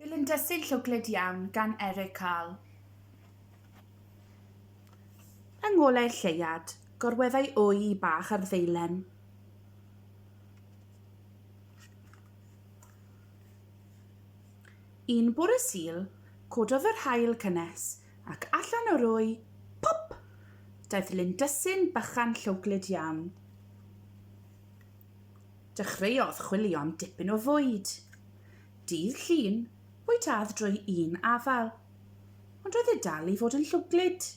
Fel yn dysu llwglyd iawn gan Eric Carl. Yng ngolau'r lleiad, gorweddai wy i bach ar ddeilen. Un bore sil, cododd yr haul cynnes, ac allan o'r wy, pop! Daeth lindysyn bychan llwglyd iawn. Dechreuodd chwilio am dipyn o fwyd. Dydd Llun, bwytâdd drwy un afael. Ond roedd e dal i fod yn llwglyd.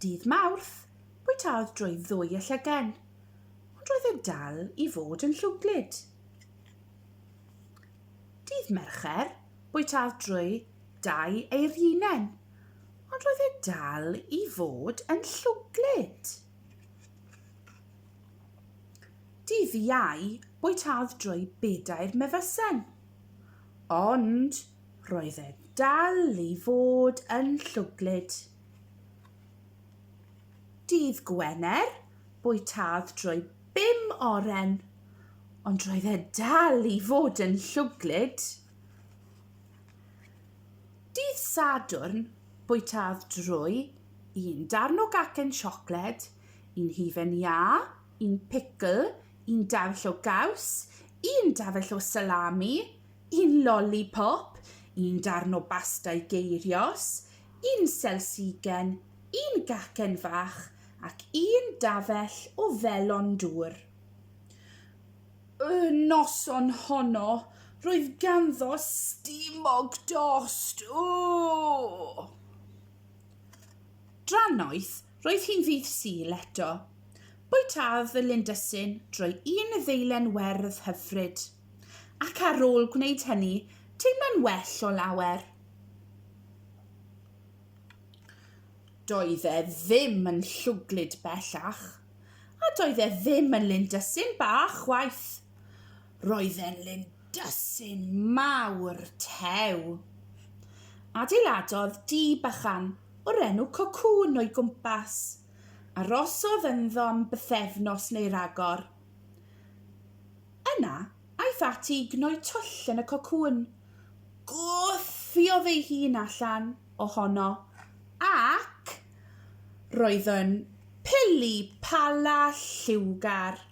Dydd Mawrth, bwytâdd drwy ddwy y llygen. Ond roedd e dal i fod yn llwglyd. Dydd Mercher, bwytâdd drwy dau eirinen. Ond roedd e dal i fod yn llwglyd. Dydd Iau bwytâdd drwy bedair mefusen. Ond roedd e dal i fod yn llwglyd. Dydd Gwener bwytâdd drwy bum oren, ond roedd e dal i fod yn llwglyd. Dydd Sadwrn bwytâdd drwy un darn o gacen siocled, un hufen iâ, un picl, un dafell o gaws, un dafell o salami, un loli pop, un darn o basta i geirios, un selsigen, un gacen fach ac un dafell o felon dŵr. Y noson honno, roedd ganddo stumog dost. Ww! Drannoeth, roedd hi'n ddydd Sul eto. Bwytaodd y lindysyn drwy un ddeilen werdd hyfryd, ac ar ôl gwneud hynny, teimlo'n well o lawer. Doedd e ddim yn llwglyd bellach, a doedd e ddim yn lindysyn bach chwaith. Roedd e'n lindysyn Dysyn mawr tew. Adeiladodd du bychan o'r enw Cocoon o'i gwmpas. Arosodd ynddo am bythefnos neu ragor. Yna, aeth ati i gnoi twll yn y cocŵn. Gwthiodd ei hun allan ohono ac roedd yn pili pala lliwgar.